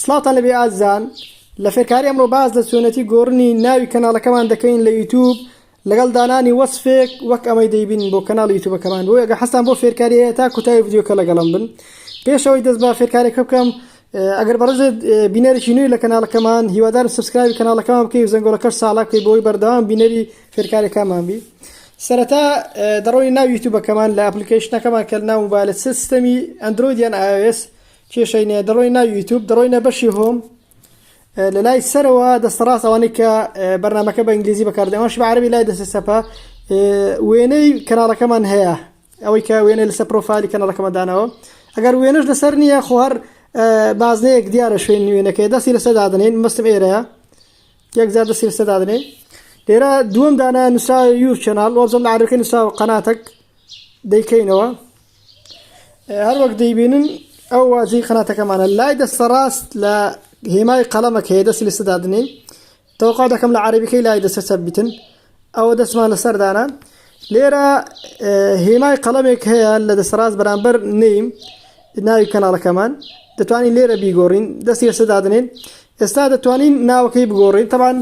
سڵاوتان لەبێ ئازیزان لە فێرکاری ئەمڕۆ باز لە چۆنەتی گۆڕنی ناوی کەناڵەکەمان دەکەین لە یوتوب لەگەڵ دانانی وەسفێک وەک ئەمەی دەیبین بۆ کەناڵ یوتوبەکەمان بۆ ئەگە حەستان بۆ فێرکاریەیە تا کوتای ڤیددیوکە لەگەڵم بن پێشەوەی دەست بە فێرکارێکە بکەم ئەگەر بەڕێزت بینەرێکی نوێی لە کەناڵەکەمان هیوادارم سبسکرایبی کەناڵەکەمان بکەی و زەنگۆڵەکەش ساڵا بکەی بۆی بەردەوام بینەری فێرکارەکەمان بی سەرەتا دەڕۆی ناو یوتوبەکەمان لە ئەپلیکیشنەکەمان کە ناو موبایلە سیستەمی ئەندرویدیان ئاوێس کێشەی نیە دەڕۆی ناو یوتوب دەڕۆینە بەشی هۆم لە لای سەرەوە دەستەڕاست ئەوانەی کە بەرنمەکە بە ئینگلیزی بەکاردەوەش بە عربی لای دەسێ سەپە وێنەی کەناڵەکەمان هەیە ئەوەی کە وێنە لەسەر پرۆفایلی کەنەڵەکەمەدانەوە ئەگەر وێنەش لەسەر نییە خۆهر بازنەیەک دیارە شوێن نوێنەکەی دەستی لەسەر دادنین مەستم ئێرەیە یەکجار دەستی لەسەر دادنین لێرە دووەم دانا نووسا یو چەناڵ وەزم لە عرەکە نووسا و قەناتەک دەیکەینەوە هەر وەک دەیبینن ئەو واجی خناتەکەمانە لای دەستە ڕاست لە هێمای قەڵەمەکە هەیە دەستی لە سەدادنین تەوقا دەکەم لە عربیەکەی لای دەسە چەپ بتن ئەوە دەستمان لە سەردانە لێرە هێمای قەڵەمێک هەیە لە دەسەڕاست بەرامبەر نیم ناوی کەناڵەکەمان دەتوانین لێرە بیگۆڕین دەستی لەسە دادنێن ئێستا دەتوانین ناوەکەی بگۆڕین تەبان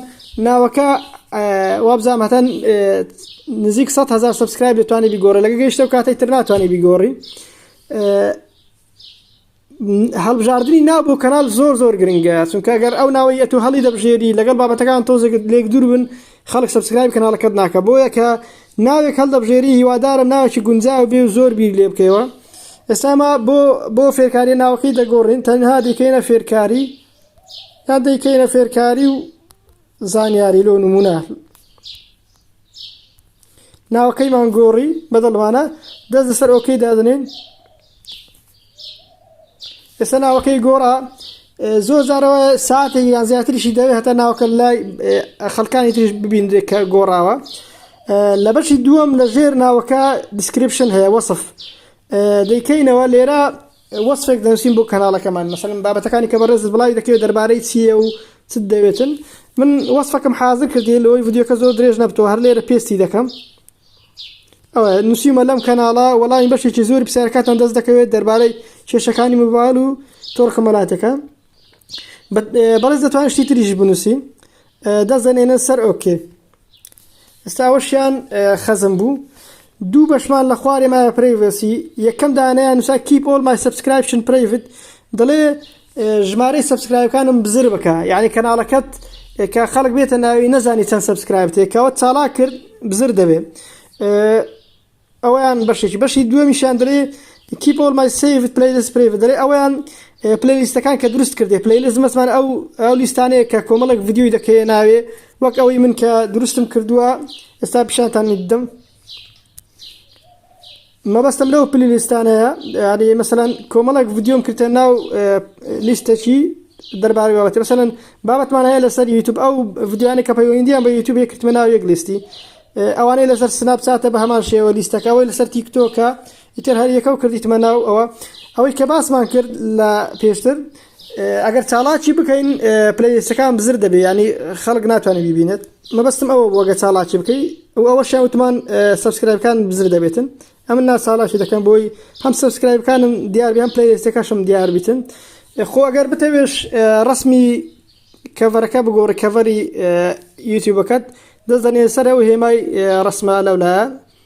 ناوەکە وابزانام هەتان نزیک 100 هزار سبسکرایب دەتوانانی بیگۆڕە لەگە گەیشتە و کاتێک تر ناتوانانی بیگۆڕی هەڵبژاردننی ناو بۆ کەنال زۆر زۆر گرنگە چونکە گەر ئەو ناوەی ئەتو هەڵی دەبژێری لەگەڵ بابەتەکان تۆزێکت لێک دوور بن خەڵک سەبسکرایب کەناڵەکەت ناکە بۆیە کە ناوێک هەڵدەبژێری هیوادارم ناوێکی گونجاو بێ و زۆر بیر لێ بکەوە ئێستاما بۆ بۆ فێرکاری ناوەکەی دەگۆڕین تەنها دیکەینە فێرکاری یا دەیکەینە فێرکاری و زانیاری لۆ نمونە ناوەکەیمان گۆڕی بەدڵمانە دەست لەسەر ئۆکەی دادنین ئێستا ناوەکەی گۆڕا زۆر جارەوە ساعتێک یان زیاتریشی دەوێت هەتا ناوکە لای خەڵکانی تریش ببینرێت کە گۆڕاوە لە بەشی دووەم لە ژێر ناوەکە دیسکرپشن هەیە وەصف دەیکەینەوە لێرە وەصفێک دەنووسین بۆ کەناڵەکەمان مەسەن بابەتەکانی کە بەڕێز بڵای دەکەوێت دەربارەی چییە و چ دەوێتن من وەصفەکەم حازر کردی لەوەی ڤیددیوکە زۆر درێژ نەبتەوە هەر لێرە پێستی دەکەم نووسیمە لەم کەناڵە وەڵامی بەشێکی زۆر پرسیارەکاتان دەست دەکەوێت دەربارەی کێشەکانی موبایل و تۆڕ کەمەلاتەکە بەڵێز دەتوان شتی تریش بنووسی دەزەنێنە سەر ئۆکێ ئێستاوەشیان خەزم بوو دوو بەشمان لە خوارێ مایە پرەیڤسی یەکەم دانیان نووسا کیپ ئۆڵ مای سبسکرایپشن پرەیڤت دەڵێ ژمارەی سەبسکرایبەکانم بزر بکە یعنی کەناڵەکەت کە خەڵک بێتە ناوی نەزانی چەند سەبسکرایب تێکەوە چاڵا کرد بزر دەبێت ئەویان بەشێکی بەشی دوێمیشان دەێ کیپۆل مای سیفت پلیلیست پرێ دەێ ئەویان پلیلیستەکان کە دروست کردێ پلیلیست مەسمان ئەو ئەو لیستانەیە کە کۆمەڵک ڤیددیوی دەکەێ ناوێ وەک ئەوەی من کە دروستم کردووە ئێستا پیشانتان دەم مەبەستم لەو پلی لیستانەیە یاری مەسەەن کۆمەڵێک ڤیددیۆم کردە ناو لیستەکی دەربارە بابەتی مەسەەن بابەتمان هەیە لەسەر یوتوب ئەو ڤیددیوانە کە پەیوەندیان بە یوتوب کردمە ناو یەک لیستی ئەوانەی لەسەر سناب چاتە بە هەمان شێوە لیستەکە ئەوەی لەسەر تیکتۆکە ئیتر هەر یەکە و کردیتمە ناو ئەوە ئەوەی کە باسمان کرد لە پێشتر ئەگەر چاڵاکی بکەین پلیلیستەکان بزر دەبێ ینی خەڵک ناتوانێت بیبینێت مەبستم ئەوە بۆگە چاڵاکی بکەی و ئەوە شاوتمان سبسکرایبەکان بزر دەبێتن ئەمن ناساڵاکی دەکەم بۆی هەم سبسکرایبەکانم دیار بیان پلیلیستەکەشم دیار بیتن خۆ ئەگەر بتەوێش ڕسمی کەڤەرەکە بگۆڕی کەڤەری یوتیوبەکەت دەزانێ سەرەوە هێمای ڕسمە لەولایە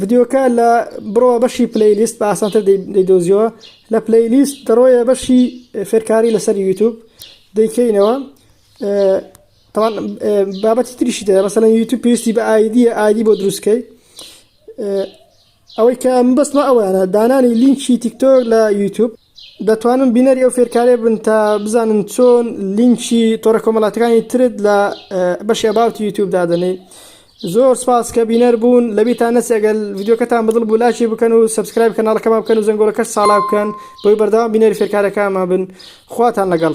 ڤیدیۆکە لە بڕۆ بەشی پلی لیست بە ئاسانتر دەیدۆزیەوە لە پلی لیست دەڕۆیە بەشی فێرکاری لەسەر یوتوب دەیکەینەوە بابەتی تریشی دە مەسەن یوتوب پێویستی بە ئایدی ئایدی بۆ دروستکەی ئەوەی کە بەستمە ئەوانە دانانی لینکی تیکتۆک لە یوتوب دەتوانم بینەری ئەو فێرکارێ بن تا بزانن چۆن لینکی تۆڕە کۆمەڵاتەکانی ترت لە بەشێ باوتی یوتوب دادنەی زۆر سپاس کە بینەر بوون لەبیتان نەسێگەل یددیوکەتان بەدڵ بوو لاکی بکەن و سبسکرایب کەناڵەکەمان بکەن و زەنگۆلەکەش ساڵا بکەن بۆی بەردەوام بینەری فێرکارەکانمان بن خواتان لەگەڵ.